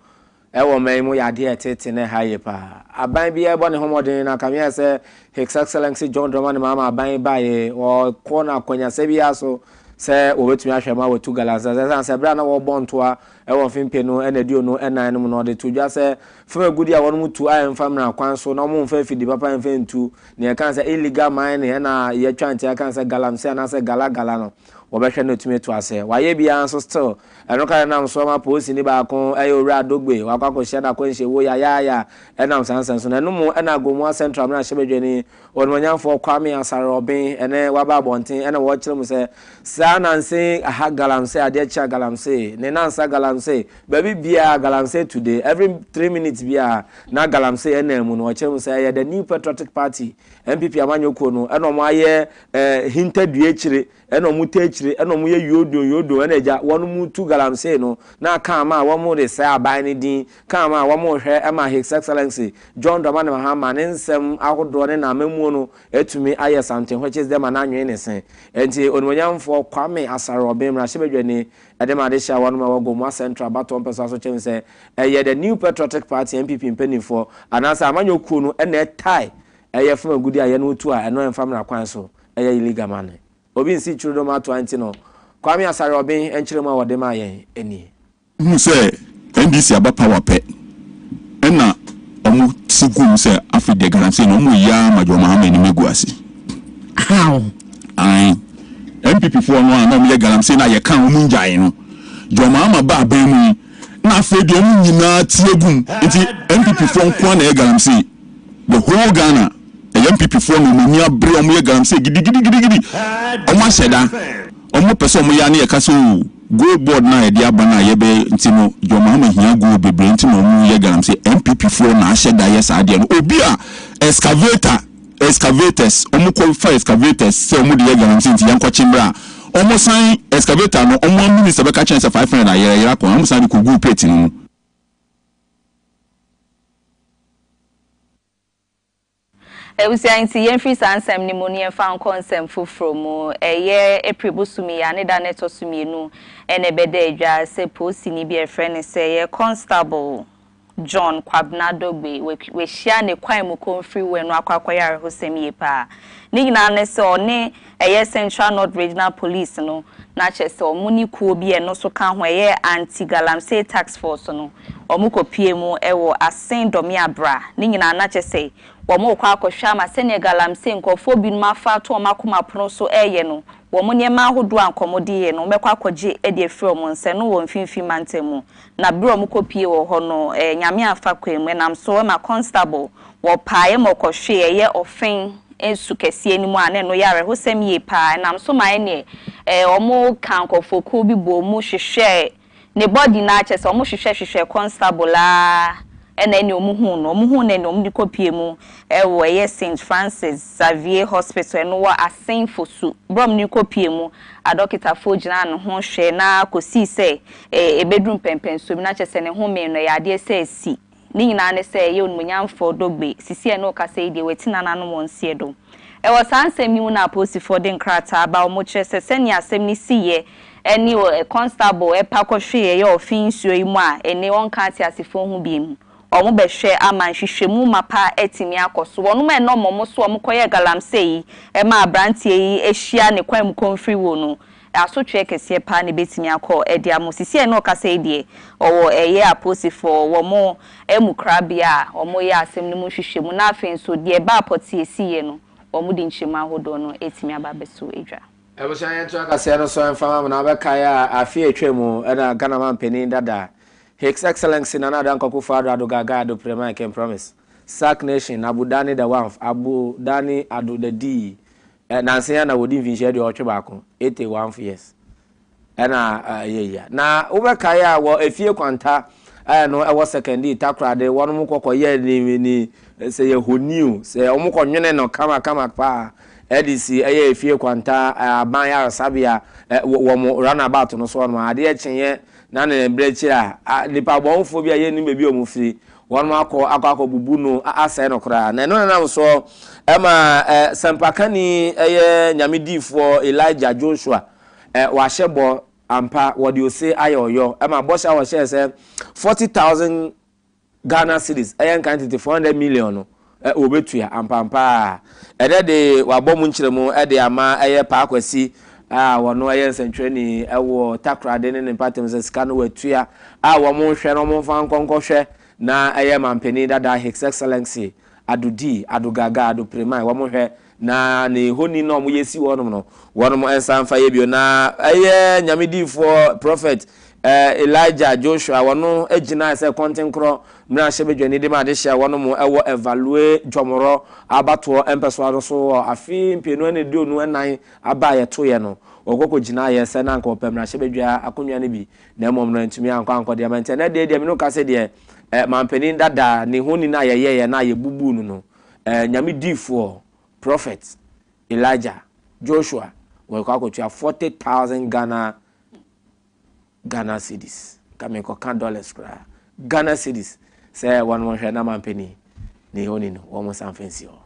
wɔ ɔman yi mu yɛ adeɛ a ɛtete na ɛha yie paa. Aban biara rebɔ ne ho mmɔden na anka meae sɛ His Excellency John Dramani Mahama aban yi baeɛ wɔkɔ no akwanyasɛ biara so sɛ wɔbɛtumi ahwɛ ma wɔatu Galamsey ase ɛsiane sɛ berɛ a na wɔrebɔ ntoa wɔ mfe mpenu ɛna aduonu ɛnan no mu no ɔde to dwa sɛ fam agudeɛ a wɔnom tu a ɛmfa mmara kwan so na wɔmfa afidie papa mfa ntu Nea ɛka sɛ illegal mining ɛna yɛtwa nti aka sɛ galamsey anaasɛ gala gala no wɔbɛhwɛ na atumi atu asɛɛ. Wayɛ biara nso still ɛno kra ɛnam so ama polisini baako ɛyɛ Owura Adogbe wakɔ akɔhyia no akwanhyie wo Yayaaya ɛnam saa nsɛnso no. Ɛno mu ɛna Agomoa Central mmarahyɛbadwani Onimuonyamfoɔ Kwame Asare Obeng ɛnɛ waba abɔnten ɛna wɔrekyerɛ mu sɛ saa nansa yi aha galamsey adeɛ kye a galamsey ne nansa galamsey Baabi biara a galamsey tu de, every three minutes biara na galamsey ɛnam mu no, ɔkyerɛ mu sɛ ɛyɛ the New Patriotic Party, NPP amanyɔ kuo no, ɛna wɔn ayɛ eh, hinta dua akyire, ɛna wɔn ta akyire, ɛna wɔn yɛ yodon yodon, ɛna agya, wɔn mu tu galamsey no, na aka ama a wɔn de sɛɛ aban no din, ka ama a wɔn hwɛ ɛma His Excellency John Dramani Mahama ne nsɛm ahodoɔ ne n'amammuo no atumi ayɛ something which is dɛm anaa nwene ne se. Ɛnti Onimonyamfoɔ Kwame Asare Obeng, Mmarahyɛbadwani, Ɛde ma adehyeɛ wɔnom a ɛwɔ Gomoa Central abatoɔ mpɛsoa so kyɛn sɛ ɛyɛ The New Patriotic Party, NPP, mpaninfoɔ anaasɛ amanyɔ kuo no na ɛtae ɛyɛ fam agudie a ɛyɛ no tu a ɛno ɛmfa mmra kwan so ɛyɛ illegal ma no obi nsi twiri no ma atoa nti no Kwame Asare-Obeng nkyerɛmu a wɔde maa yɛn nie. Hu sɛ NDC aba power pɛ ɛna ɔmo si gum sɛ afei deɛ Galamsey no ɔmo yi ara ma John Mahama anim agu ase. How? Ae. NPP foɔ no a na ɔmo yɛ Galamsey no a yɛ kaa ɔmo ngyae no, John Mahama ba aban mu yi na afei deɛ ɔmo nyinaa ti agum. Nti NPP foɔ nko ara na ɛyɛ Galamsey. The whole Ghana ɛyɛ NPP foɔ na ɔmo ani abere, ɔmo yɛ Galamsey gidigidigidigidi. Ɔmo ahyɛ da, ɔmo pɛ sɛ ɔmo yɛ a ne yɛ ka sɛ oo. Gold board no a yɛde aba no a yɛbɛyɛ nti no John Mahama hia gold bebree nti na ɔmo yɛ galamsey NPP foɔ na ahyɛ da yɛ saa adeɛ no obi a excavator excavators ɔmo kɔ fa excavators sɛ ɔmo de yɛ galamsey nti yɛnkɔ kye mmerɛ a ɔmo san excavator no ɔmo a minister bɛka kyerɛ sɛ five hundred ayera yera kɔ ɔmo san de kɔ guu pit no mu. Ebusua nti, yɛmfiri saa nsɛm no mu na yɛmfa nkɔ nsɛm foforɔ mu. Ɛyɛ April bosome yi ara ne da no ɛtɔ so mmienu na ɛbɛda adwa sɛ poosini bi a yɛfrɛ no sɛ yɛ Constable John Kwabena Dogbe wahyia ne kwan mu kɔmfiriwɛ no akɔ akɔyɛ awerɛhosɛm yie paa. Ne nyinaa ne sɛ ɔne Ɛyɛ Central North Regional Police no na kyerɛ sɛ wɔn ne kuo bi a ɛno nso ka ho ɛyɛ Anti-Galamsey Task Force no wɔn kɔ pue mu wɔ Asen Dɔmea Bra ne nyinaa na kyerɛ sɛ wɔn rekɔ akɔ hwɛ ama sɛdeɛ Galamsey nkorɔfoɔ binom afa ato wɔn akoma pono so reyɛ no wɔn nneɛma ahodoɔ a nka wɔn de yɛ no wɔn bɛkɔ akɔ gye de afiri wɔn nsa ɛno wɔ Mfimfini Mantam mu na bere a wɔkɔpue wɔ hɔ no ɛ, Nyame amfa kwan mu, ɛnam so ma constable wɔpaeɛ ma ɔkɔhwee ɛyɛ Ɔfen su kɛseɛ no mu a na ɛno yɛ awerɛhosɛm yie pa ara, ɛnam so ma ɛneɛ ɛ, wɔkaa nkorɔfoɔkuo bi bɔɔ mu hwehwɛɛ ne body no ara, kyerɛ sɛ wɔhwehwɛ hwehwɛɛ constable ara ɛna ɛneɛ wɔhuu no, wɔhuu no ɛneɛ wɔde kɔpue mu wɔ ɛyɛ Saint Francis Xavier Hospital, ɛno wɔ Asen Fosu, bere a wɔde no kɔpue mu, adɔketafoɔ gyinaa ne ho hwɛɛ na kɔsii sɛ Ebeduru mpɛnpɛnso bi no, na kyerɛ sɛ ne home no, ɛyɛ adeɛ sɛ asi. Ne nyinaa ne sɛ, Ɛyɛ Onimuonyamfoɔ Dogbe, sisi a ɛne wo kasa yi deɛ, wati n'ananom wɔ nseɛ do. Ɛwɔ saa nsɛm yi mu na apolisifoɔ de nkrataa ba, wɔkyerɛ sɛ sɛnea asɛm no siiɛ ne Constable ɛpa kɔhwee ɛyɛ ɔfe nsuo yi mu a, ene wɔnka ateasefoɔ ho biom. Wɔbɛhwɛ ama nhwehwɛmu mapa atumi akɔ so. Wɔnom a ɛne wɔn so wɔkɔyɛɛ galamsey yi maa abranteɛ yi hyia ne kwan mu komfiri wuo no, asotweɛ kɛseɛ paa na ɛbɛtumi akɔ ɛde amo sisi a ɛne ɔkasa yi deɛ ɔwɔ ɛyɛ apoosifoɔ wɔ mo amu korabea a ɔmo yɛ asɛm no mu nhwehwɛ mu na afei nso deɛ ɛbaa pɔtee si yɛ no ɔmo de nkyerɛmu ahodoɔ no atumi aba abɛso adwa. Abusua yɛn to akaseɛ no so mfa ma me na wobɛ kae a afe a atwa mu na Ghana man panin dada His Excellency Nana Addo Anko Akufo Addo Addo Gaga Addo Prema I can promise Sac Nation Abu Dani the Wanf Abu Dani Addo the Dii Nansa yi ara na wɔdi mfinhyia aduɔwɔtwe baako, 81 years, ɛna ɛyɛ yi a. Na wobɛkae a wɔ efie kwanta ɛno ɛwɔ Sekɛndii Takorade wɔn mo kɔkɔ yɛ ni ni sɛ yɛ honi o, sɛ wɔn kɔ nwene no kama kama paa ɛde si ɛyɛ efie kwanta aban yaresabea wɔn runabout no so hɔ nom a, adeɛ kyeeɛ na ne berɛ kyiri a, nipabɔnfoɔ bi a yɛnnim baabi a wɔn firi Wɔakɔ akɔbubu no asɛe no koraa. Na ɛno na ɛnam so ma sɛmpakani yɛ Nyame diifoɔ Elijah Joshua wahyɛ bɔ ampa, wɔde ose ayɛ ɔyɔ ma bɔhyɛ a wɔhyɛɛ sɛ 40,000 Ghana cedis, ɛyɛ nkan tete 400 million no. Wɔbɛtua ampaapa a. Ɛnɛ de, wɔabɔ mu nkyerɛmu de ama ɛyɛ Paa Kwasi a ɔno yɛ nsɛntwerɛni wɔ Takoradi ne ne mpɔtam sɛ sika no wɔatua a wɔnhwɛ na wɔmfa nkɔ nkɔhwɛ na ɛyɛ Manpanin dada His Excellency Ado Dee, Ado Gaga, Ado Premae wɔnhwɛ Na ne honi no a wɔyɛ si wɔ hɔnom no, wɔnom nsa mfa yɛ bio. Na ɛyɛ Nyame diyifoɔ, Prophet, eh, Elijah, Joshua, wɔno gyinaɛ sɛ kɔntenkorɔ mmerahyɛ badwani de ma adehye a wɔnom wɔ Evalue Dwɔmorɔ abatoɔ mpɛsoa no so wɔ afe mpeenu aneduonu ɛnan aba a yɛtoeɛ no. Wɔkɔ kɔ gyinaeɛ sɛ na anka wɔpɛ mmerahyɛ badwa akonnwa no bi, na mmom no antumi ankɔ ankɔ de ama. Nti ɛnɛ deɛ deɛ mene wo kase deɛ, eh, Mampanin dada ne honi no a yɛyɛeɛ na yɛbubuu no no, ɛɛ Nyame diifoɔ, prophet, Elijah, Joshua, wɔrekɔ akɔtua forty thousand Ghana Ghana cedis. Nka menkɔka dollars koraa. Ghana cedis sɛ wɔn mo nhwɛ na mampanin ne yɛ oni no wɔn mo nsa mfa nsi hɔ.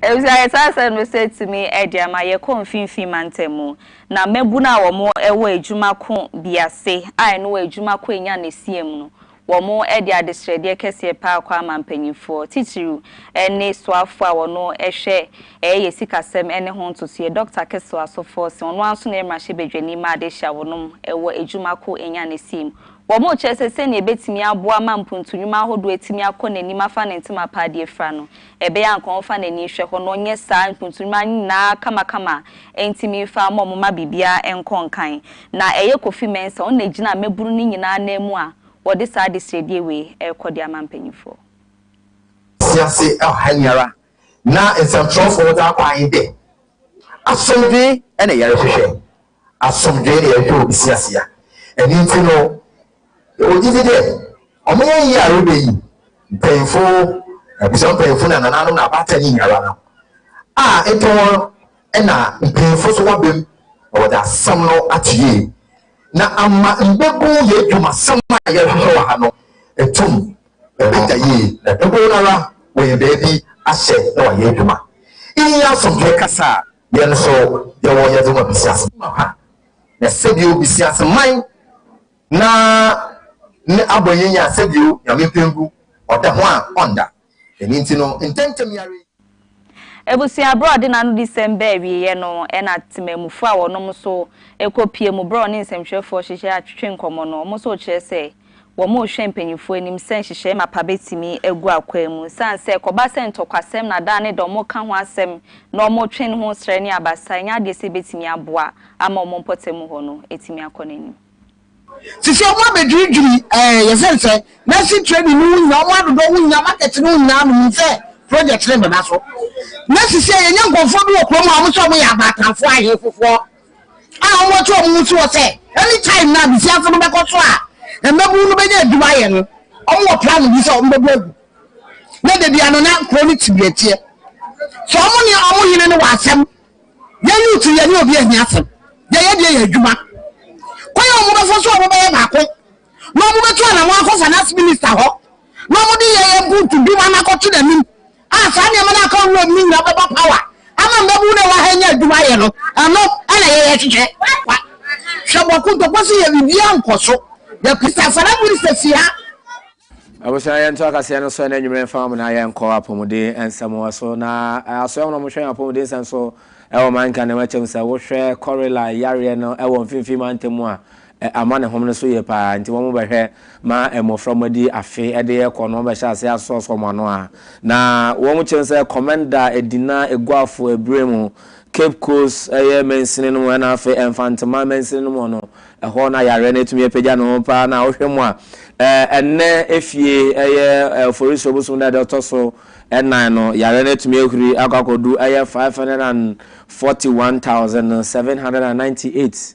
Ebisa yɛ saa asɛm no sɛ tumi ɛde ama yɛkɔ mfimfini mantam mu na mmabunu a wɔn ɛwɔ adwuma ko bi ase a ɛno adwuma ko enya ne siam no Wɔde adesrɛdeɛ kɛseɛ paa kɔ ama mpanimfoɔ, titiriw ne soafoɔ a ɔno hwɛ ɛyɛ yɛ sikasɛm ne ho ntotoeɛ, Dɔkta Kissel Assofour Seng, ɔno ara nso ne mmarahyɛbadwani ma adehye a wɔnom wɔ adwuma ko Enya ne Sim. Wɔkyerɛ sɛ sɛnea ɛbɛtumi aboa ma mpuntu nnwuma ahodoɔ atumi akɔ n'anim afa ne ntoma paa de afira no, Ɛbɛyɛ a anka ɔmfa n'ani nhwɛ hɔ na ɔnyɛ saa mpotunuma nyinaa kamakama a entumi mfa mma wɔn mma biribiara nkɔ nkan. Na ɛyɛ Kofi Mensah, ɔno na egyina mmabunu no nyinaa nan mu a wɔde saa adesrɛdie wei rekɔ de ama mpanimfoɔ. Mfiase ha yi ara na nsɛmtwerɛfoɔ daa kwan dɛ, Asomdwee na yɛrehwehwɛ. Asomdwee na yɛpɛ wɔ Bisiasia. Ɛno nti no, yɛwɔ gyidi dɛ ɔmanyɛ yie a reba yi, mpanyimfo, abusua mpanyimfo na nananom na abaatan ne nyinara no, a nka hɔn na mpanyimfo so wɔaba mu na wɔdze asɛm no ato yie na ama mbabu y'edwumasɛm a yɛrohwehwɛ wɔ ha no etum ebenya yie na dodow noara wɔenya beebi ahyɛ na wɔayɛ edwuma. Iyi nye asomdwee kasa a Yɛn nso yɛwɔ yɛdze ma bisiase mapa, na sɛbio bisiase man na ne abɔnyɛ nyia sɛbio Nyame mpɛngu ɔda ho a ɔnnda. Dɛm ntsi no, ntsɛntsɛm yi ara yi. Ebusua berɛ a ɔde n'anodisɛm baa awieeɛ no, ɛna temanmufoɔ a wɔnom nso kɔ pie mu berɛ a ɔne nsɛmtwerɛfoɔ hyehyɛɛ atwetwe nkɔmmɔ no, wɔn nso rekyerɛ sɛ. Wɔrehwɛ mpanyimfo anim sɛ nhyehyɛe mapa betumi agu akwaa mu. Esiane sɛ ɛkɔba sɛ ntɔkwasɛm na daa ne dɔm reka ho asɛm na wɔretwe ne ho srɛ ne abasa, ɛnyɛ ade a ɛsɛ ebetumi aboa ama wɔn mpɔtam hɔ no atumi akɔ n'anim. Sisi wɔabedwiridwiri ɛɛ yɛsɛn sɛ nursing training no ho hia wɔn adodɔ ho hia market no ho hia no nim sɛ project no bɛba so na sisi a yɛnya nkurɔfoɔ bi wɔ kurom a wɔn nso wɔyɛ abaatanfoɔ ahe fofoɔ a wɔatu wɔn ho si hɔ sɛ anytime no abusuafo no bɛkɔ so a mmabun no bɛnya adwuma ayɛ no, wɔwɔ plano bi sɛ wɔbɛbu agu. Na da biara no na kuro no tibiatiɛ. Sɛ wɔn ne wɔn hene no wɔ asɛm, yɛ youth yɛ ne obi ahia asɛm, yɛyɛ deɛ yɛ adwuma. Kwan a wɔbɛfa so a wɔbɛyɛ baako na wɔbɛtu anamɔ akɔ finance minister hɔ na wɔde yɛyɛ buutu dwuma no akɔto n'anim. a saa nneɛma no a aka wuram no nyinaa bɛbɔ power ama mmabun no a wɔwɔ ha anya adwuma ayɛ no, ɛno na yɛyɛ hwehwɛ. Hwɛ bɔ kontɔkɔ sɛ yɛ biribiara nkɔ so, yɛ Christansara minister fi ha. Abusua yɛntoa kaseɛ no so ɛnɛ anwummerɛ mfa mo na yɛnkɔ apɔmuden nsɛm wɔ so na asoɛ wɔn a wɔhwɛ yɛn apɔmuden nsɛm so ɛwɔ manka na ɛwɔ akyɛm sɛ wohwɛ kɔrela yareɛ no ɛwɔ mfimfini mantam mu a Amanehom no so ye paa, nti wɔbɛhwɛ ma mmofra a wɔadi afe de rekɔ no, wɔbɛhyɛ ase asɔɔsɔ wɔn ano a na wɔkyerɛ sɛ Kɔmɛnda, Edina, Eguafo, Ebire mu, Cape Coast ɛyɛ mansini no mu ɛna afei Mfanteman mansini no mu no, ɛhɔ na yareɛ no atumi apagya ne ho paa na wohwɛ mu a ɛnnɛ efie ɛyɛ Oforisuo bosom da ɛda ɔtɔ so ɛnan no yareɛ no atumi ahuri akɔ akɔdu ɛyɛ 541,798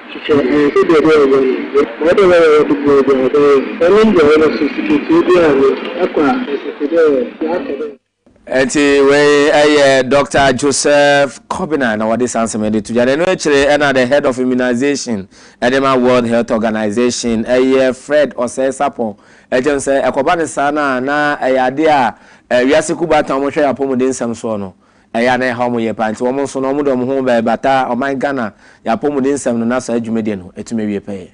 Sɛ anhwɛ deɛ ɛbɛyɛ ɔbɛn no yɛ ɔwɔ dɛ ɔbɛyɛ ɔwɔ de bua bia ɔbɛyɛ no sɛ ɔnom bua wɔ no so sikatua biaa no ɛkɔ a ɛsɛ te dɛ yɛakɔ dɛ. Ɛnti wei ɛyɛ Doctor Joseph Kobina na wɔde saa nsɛm yi de to dwa na ɛno akyire ɛna the head of immunization ɛde ma World Health Organization ɛyɛ Fred Osei-Sapong ɛgye no sɛ ɛkɔba no saa no a na ɛyɛ adeɛ a wiase kuo baatan a wɔhwɛ yɛn apɔmuden nsɛm soɔ no ɛyɛ a na ɛhaw wɔn yie paa nti wɔn nso no wɔde wɔn ho bɛbata ɔman Ghana yɛn apɔmudensɛm no na saa dwuma deɛ no atumi awie pɛyɛ.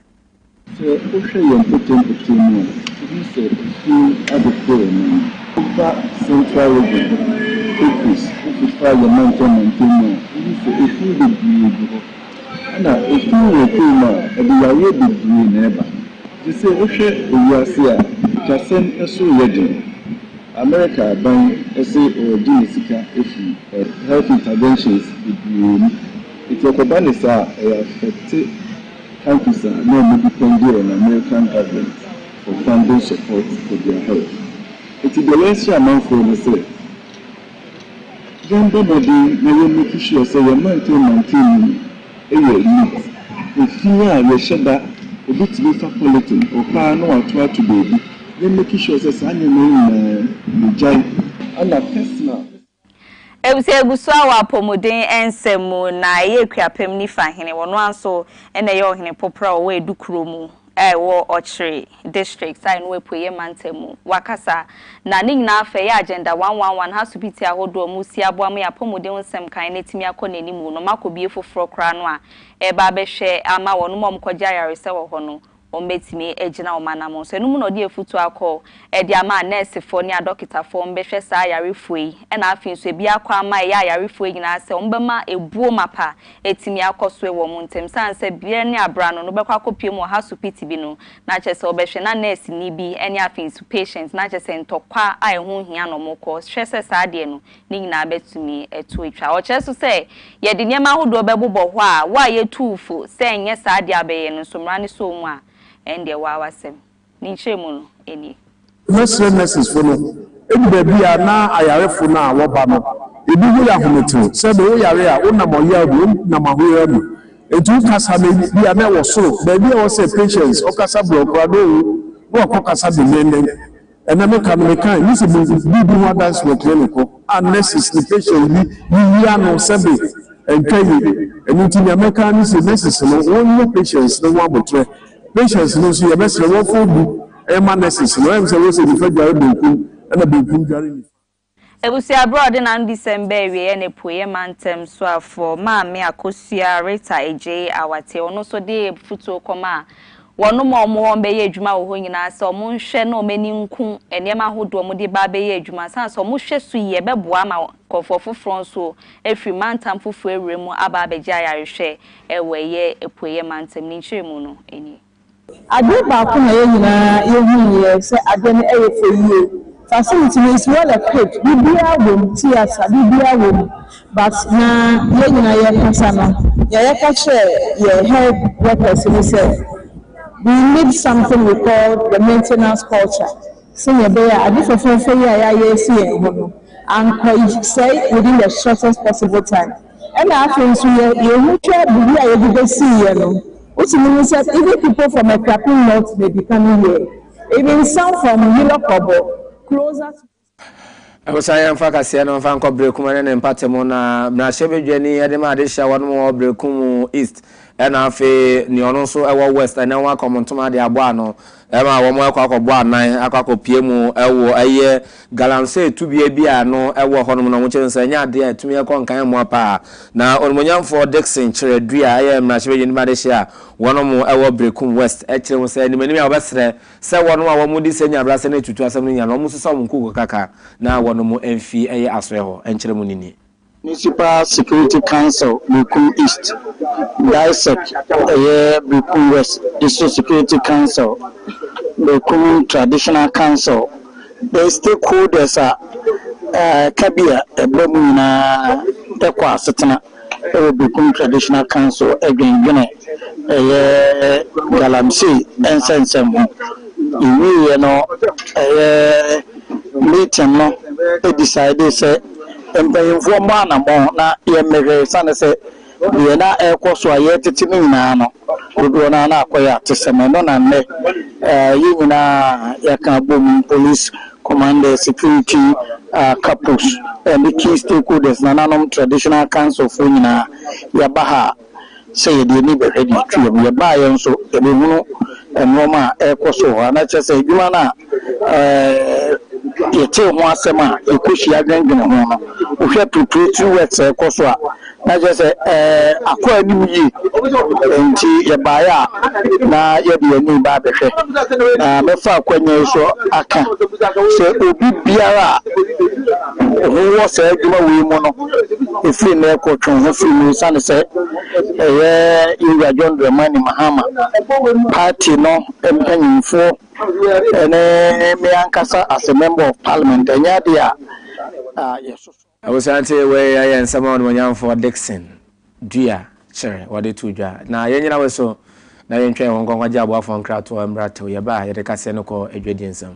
Sɛ wohwɛ yɛn mpɔtam-pɔtam mu a, wohu sɛ esum ade kɔɔ anim. Wofa Central Region, Equis, wofa yɛn mantam-mantam mu a, wohu sɛ esum bebree gu hɔ. Ɛna esum wɔ kwae mu a, ɛde yareɛ bebree na ɛba. Nti sɛ wohwɛ ewiase a, atwasɛm so yɛ den. Amerika aban se ɔregye ne sika afi health interventions bebree mu, nti ɛkɔba ne saa a, ɛyɛ affect countries a na ɔmo depend on American government for funding support for their health. Nti deɛ yɛnhyɛ amanfoɔ ne sɛ, yɛnbɔ mmɔden na yɛn make sure sɛ yɛn mantam mantam mu no, Yɛ lip. Efi a yɛhyɛ da obetumi fa pɔliten ɔpaa na wato ato baabi yɛ meki sure sɛ saa nneɛma yi nyinaa yɛgyae ɛna personal. Ebusua egu so awɔ apɔmuden nsɛm mu na ɛyɛ Akuapem Nifa hene wɔno ara nso na ɛyɛ ɔhene popra ɔwɔ Edu kuro mu wɔ Ɔkyere District a ɛno wɔ Apueeɛ Mantam mu. Wakasa, na ne nyinaa fa ɛyɛ Agenda one one one ha supiti ahodoɔ a wɔresi aboa ma yɛn apɔmuden ho nsɛm kan no atumi akɔ n'anim no ma kɔbue foforɔ koraa no a ɛreba abɛhwɛ ama wɔnom a wɔkɔgye ayaresa wɔ hɔ no wɔbɛtumi agyina wɔn anamɔn so. Ɛno mu na ɔde afutuo akɔ de ama anɛɛsefoɔ ne adɔketafoɔ a wɔbɛhwɛ saa ayarefoɔ yi na afei nso ebi akɔ ama ɛyɛ ayarefoɔ nyinaa sɛ wɔbɛma ɛbuo mapa atumi akɔ so wɔ wɔn ntam sane sɛ bere ne bere ano no wobɛkɔ akɔpue mu wɔ hasopiti bi no na kyerɛ sɛ wɔbɛhwɛ na nɛɛseni bi ne afei nso patient na kyerɛ sɛ ntɔkwa a ɛho nhia na wɔkɔ hwɛ sɛ saa deɛ no ne nyinaa bɛtumi ɛto atwa ɔkyerɛ so sɛ yɛde nneɛma ahodoɔ bɛbobɔ hɔ a wo a yɛtuu fo sɛ nyɛ saa deɛ a bɛyɛ no nso mmara no sɔɔ mu a ɛndeɛ waa wasɛm. Ne nkyerɛmu no nie. Mɛsrɛ nɛsesfo no, edu baabi a na ayarefo no a wɔba no, ebi ho yɛ ahometew, sɛ de wo yare a wonam ɔyaw mu, wonam ahoyeraw mu, enti wo kasa no ebia na ɛwɔ soro, baabi a ɛwɔ sɛ Patience ɔkasa brɛoo koraa no owu, na wakɔkasa denneennen. Ɛnnɛ meka no, mekae, misi biribi ho adanse wɔ clinic hɔ a nurses ne patients bi yiyi ano sɛ be ntwa yie. Ɛno nti nea mɛka ara ne se nurses no wɔnyɛ patients no ho aboterɛ. Patience no nso yɛbɛsrɛ wɔmfa obu mma nurses no, ɛmsɛ wɔse nifa dware benkum na benkum dware nifa. Abusua bere a ɔde n'anobisɛm baa awieɛ ne Apueeɛ Mantam Soafoɔ Maame Akosua Rita Adjei Awate, ɔno nso de abufutuo kɔmaa wɔnom a wɔwɔ hɔ bɛyɛ adwuma wɔ hɔ nyinaa sɛ wɔn nhwɛ na wɔn ani nku nneɛma ahodoɔ a wɔde ba abɛyɛ adwuma sane sɛ wɔn hwɛ so yie bɛboa ama nkurɔfoɔ foforɔ nso afiri mantam foforɔ awura mu aba abɛgye ayarehwɛ Wɔ ɛyɛ Apueeɛ Mantam ne nkyerɛmu no nie. Adeɛ baako na yɛn nyinaa yɛhunuiɛ sɛ adeɛ no yɛ fɛ yie, facility no is well equipped, biribiara wɔ mu, theatre, biribiara wɔ mu but na yɛn nyinaa yɛkasa no, deɛ yɛka kyerɛɛ yɛn health workers ne sɛ we need something we call the maintenance culture sɛnea ɛbɛyɛ a ade fɛfɛɛfɛ yi a yɛayɛ asi yɛn ho no ankɔ sɛe within the shortest possible time. Ɛna afei nso yɛ yɛn ho hwɛ biribi a yɛde bɛsi yɛ no, wotumi hu sɛ even people from Akuapem North may be coming here, even some from Yilokɔbɔ, closer to. Ɛmsa yɛn mfa kaseɛ no mfa nkɔ Berekum ɛne ne mpate mu na Mmarahyɛ Badwani de ma adehyɛ wɔn mu wɔ Berekum East ɛna afei nea ɔno nso ɛwɔ West ɛnɛ wɔn akɔm ntoma de abɔ ano. Ɛma wɔn kɔ akɔbɔ anan akɔ akɔpue mu wɔ ɛyɛ galamsey tubea bi a ano wɔ hɔnom na wɔkyerɛ no sɛ ɛnyɛ adeɛ a ɛtumi kɔ nkan mmoa paa. Na Onimuonyamfoɔ Dixon kyerɛ dui a ɛyɛ mmarahyɛbadwani mu adehyeɛ a wɔnom wɔ Berekum West kyerɛ mu sɛ animanim a wɔbɛsrɛ sɛ wɔnom a wɔde sɛ nya abrasɛ no tutu asɛm no nyinaa no wɔnsesa wɔn nkukuo kakra na wɔnom mfi ɛyɛ asoɛ hɔ nkyerɛ mu no nie. Municipal Security Council Berekum East, DISEC, ɛyɛ Berekum West District Security Council, Berekum Traditional Council, ne stakeholders a ɛka bi a ɛba mu nyinaa kɔ asetena wɔ Berekum Traditional Council dwendwene ɛyɛ Galamsey nsɛnsɛm ho. Ɛwieɛ no ɛyɛ meeting no decidee sɛ. Mpanyimfoɔ mmɔ anammɔn na yɛmmɛhwɛ esiane sɛ deɛ na ɛrekɔ so a yɛretete no nyinaa no, dodoɔ no ara na akɔyɛ atesɛm. Ɛno na nnɛ yɛn nyinaa yɛaka abom, police commanders, security kapos, ne key stakeholders, nananom traditional councilfoɔ nyinaa, yɛaba ha a. sɛ yɛde ani bɛhwɛ deɛ ɛtwa mu. Yɛbaeɛ nso, yɛbɛhunu nnoɔma a ɛrekɔ so wɔ hɔ, anaa kyerɛ sɛ adwuma no a yɛtee ho asɛm a yɛkɔhyia dwendwene ho no, wohwɛ preparatory works a ɛrekɔ so a, na kyerɛ sɛ akɔ anim yie. Enti yɛbaeɛ a, na yɛde yɛn ani reba abɛhwɛ. Na mɛfa akwanya yi so aka sɛ obi biara a. Ehu wɔ saa adwuma wei mu no, ɛfiri nnɛ rekɔ twe wo ho firi mu ɛsiane sɛ ɛyɛ yɛn wura John Dramani Mahama, party no mpanyinfoɔ ne me ankasa as a member of parliament ɛnyɛ adeɛ a yɛsoso. Abusuantee, wei ɛyɛ nsɛm a Onimuonyamfoɔ Dickson Dua kyerɛ wɔde too dwa. Na yɛn nyina wɔ so na yɛntwɛn wɔn nkɔ nkɔgye aboafoɔ nkratoɔ mmra tɛw. Yɛba a yɛde kaseɛ no kɔ adwadie nsam.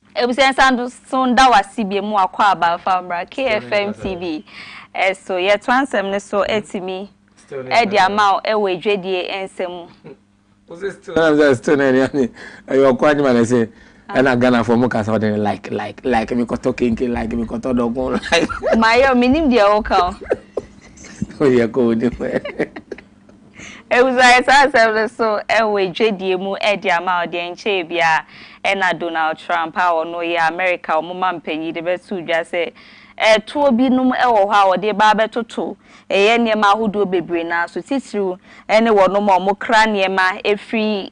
Abusua nsan do so nda wo ase biom wakɔ aba fa mbra KFM TV so yɛtoa nsɛm no so atumi de ama wo wɔ adwadie nsɛm mu. Wo se still ɛna sɛ still na ɛne ane ɛyɛ ɔko adwuma na ɛsɛ ɛna Ghana fo mo kasa ɔde like like like mi kɔtɔ kenke like mi kɔtɔ dɔkon like. Mayɛ o menim deɛ woka o. Woyɛ kɔ onim. Obusae saa asɛm no nso wɔ dwadie mu de ama a ɔde ɛnkyɛɛ biara na Donald Trump a ɔno yɛ Amerika wɔn mampanyin de bɛtoo dwa sɛ toɔ binom wɔ hɔ a wɔde ba abɛtoto yɛn nneɛma ahodoɔ bebree no ara so, titiriw ne wɔnom a wɔkra nneɛma firi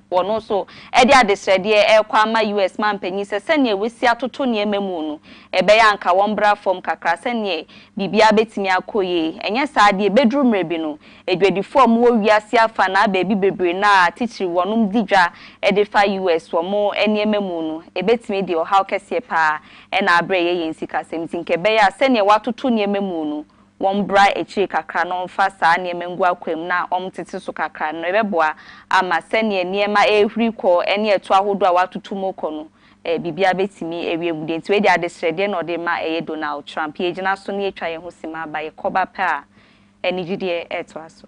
Wɔn nso de adesrɛdeɛ rekɔ ama US manpanin sɛ sɛdeɛ wɔasi atoto nneɛma mu no, ɛbɛyɛ a anka wɔmmra fam kakra sɛdeɛ biribiara bɛtumi akɔ yie. Ɛnyɛ saa deɛ, ɛbɛduru mmerɛ bi no, adwadifoɔ a wɔwɔ wiase afanaa baabi bebree no a titire wɔnom di dwa de fa US wɔn nneɛma mu no, ɛbɛtumi de ɔhaw kɛseɛ pa ara na abrɛ yɛn yɛn sikasɛm nti, nka ɛbɛyɛ a sɛdeɛ wɔatoto nneɛma mu no, wɔmbra ekyir kakra na wɔmfa saa nneɛma ngu akwaa mu na wɔntsetse so kakra no, ebɛboa ama sɛnea nneɛma rehuri kɔ ne ɛtow ahodoɔ a wɔatoto mu rekɔ no, biribiara bɛtumi awie mu. Deɛ nti wei deɛ adesrɛdeɛ na ɔde rema ɛyɛ Donald Trump. Yɛgyina so na yɛatwa yɛn ho simma aba, yɛkɔba pɛ a anigyedeɛ retoa so.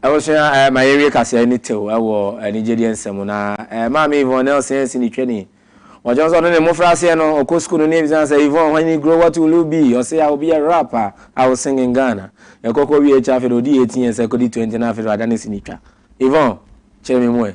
Abusua, eh, ma yɛnwie kaseɛ ne tew wɔ anigyedeɛ nsɛm mu. Na eh, maame Yvonne Nelson ansi ne twani. Wɔkyerɛ sɛ ɔno ne mmofraaseɛ no, ɔkɔ sukuu no ne ebisa sɛ, Yvonne, when you grow, what will you be? Ɔse, I will be a rapper, I will sing in Ghana. Ɛkɔ kɔ wie akyi afei de ɔdi 18 years akɔdi 20 na afei de wadane si ne twa. Yvonne, kyerɛ me mu ɛ.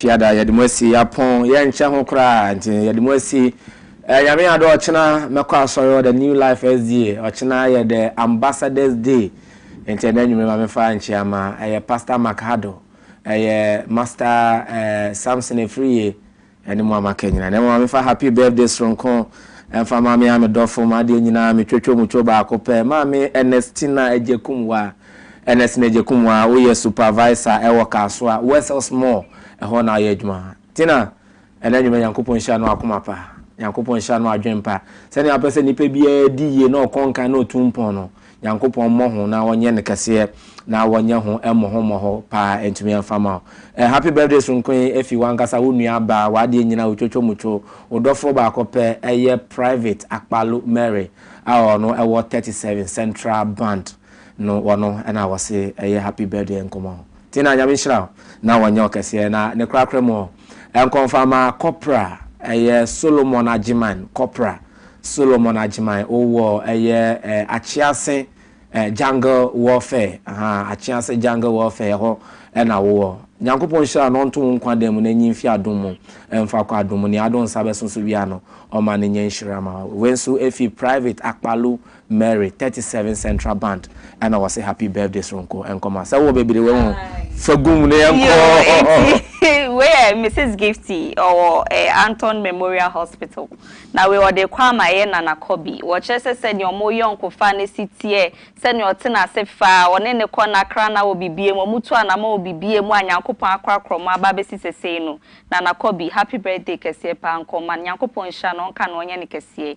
fiada yɛde mo asi apɔn yɛnkyɛ ho koraa nti yɛde mo asi eh, nyame adɔ ɔkyena mɛkɔ asɔre ɔda new life sda ɔkyena yɛ the ambassadors day nti ɛnɛ nwuma ma mefa nkyea ma ɛyɛ pastor macado ɛyɛ master eh, samson efiriye Ɛne mo ama ka nyina. Na mmom ma me fa happy birthday soronko mfa ma me a me dɔfo, m'adeɛ nyinaa, me twotwo mu two baako pɛ, maame Ernestina Agyekumwaa, Ernestine Agyekumwaa, wo yɛ supervisor ɛwɔ Kasoa, Wessels mall, ɛhɔ na wo yɛ adwuma. Tina, ɛnɛ anwummerɛ Nyankopɔn nhyira no akoma pa, Nyankopɔn nhyira no adwene pa, sɛdeɛ wapɛ sɛ nipa biara di yie na ɔkɔ nkan na ɔtu mpɔn no, Nyankopɔn mmɔ ho na ɔnyɛ no kɛseɛ na wɔnyɛ ho mmɔho mmɔho paa ɛntumi ɛmfa mma wo eh happy birthday soronko yi ɛfi wankasa wo nua baa w'adeɛ nyina otwotwo mutwo wo dɔfoɔ baako pɛ ɛyɛ private akpalo Mary a ɔno ɛwɔ 37 central band no ɔno ɛna wɔse ɛyɛ happy birthday nkɔmɔ ti na nyame nhyira wo na wɔnyɛ wo kɛseɛ na ne korakora mu ɔ nkɔmfama kɔpra ɛyɛ Solomon Agyeman kɔpra Solomon Agyemang wɔ ɛyɛ Akyease Jungle Warfare ahaa Akyease Jungle Warfare ɛhɔ na wowɔ. Nyankopɔn nhyira no ɔnto wo nkwa dan mu na nyin fi adom mu mfa kɔ adom mu nea adom nsa bɛso so biara no ɔma no nyɛ nhyira ma wo. Wei nso ɛfi Private Akpalu Mary thirty seven central band ɛna wɔse happy birthday soronko nkɔma sɛ wowɔ bebire wɔ ho fagum ne yɛn kɔ. wei yɛ mrs gifty ɔwɔ eh, anton memorial hospital na wei ɔde kɔ ama yɛ nana kɔbi wɔkyerɛ sɛ sɛdeɛ ɔmo yɔnko fa ne si teɛ sɛdeɛ ɔte n'ase fa ɔne ne kɔ na kra na wɔ bibie mu ɔmo tu anamɔ wɔ bibie mu a nyankopɔn akorakora ɔmo aba abɛsi sesei no nana kɔbi happy birthday kɛseɛ paa nkɔma nyankopɔn nhyira no ɔnka no ɔnyɛ no kɛseɛ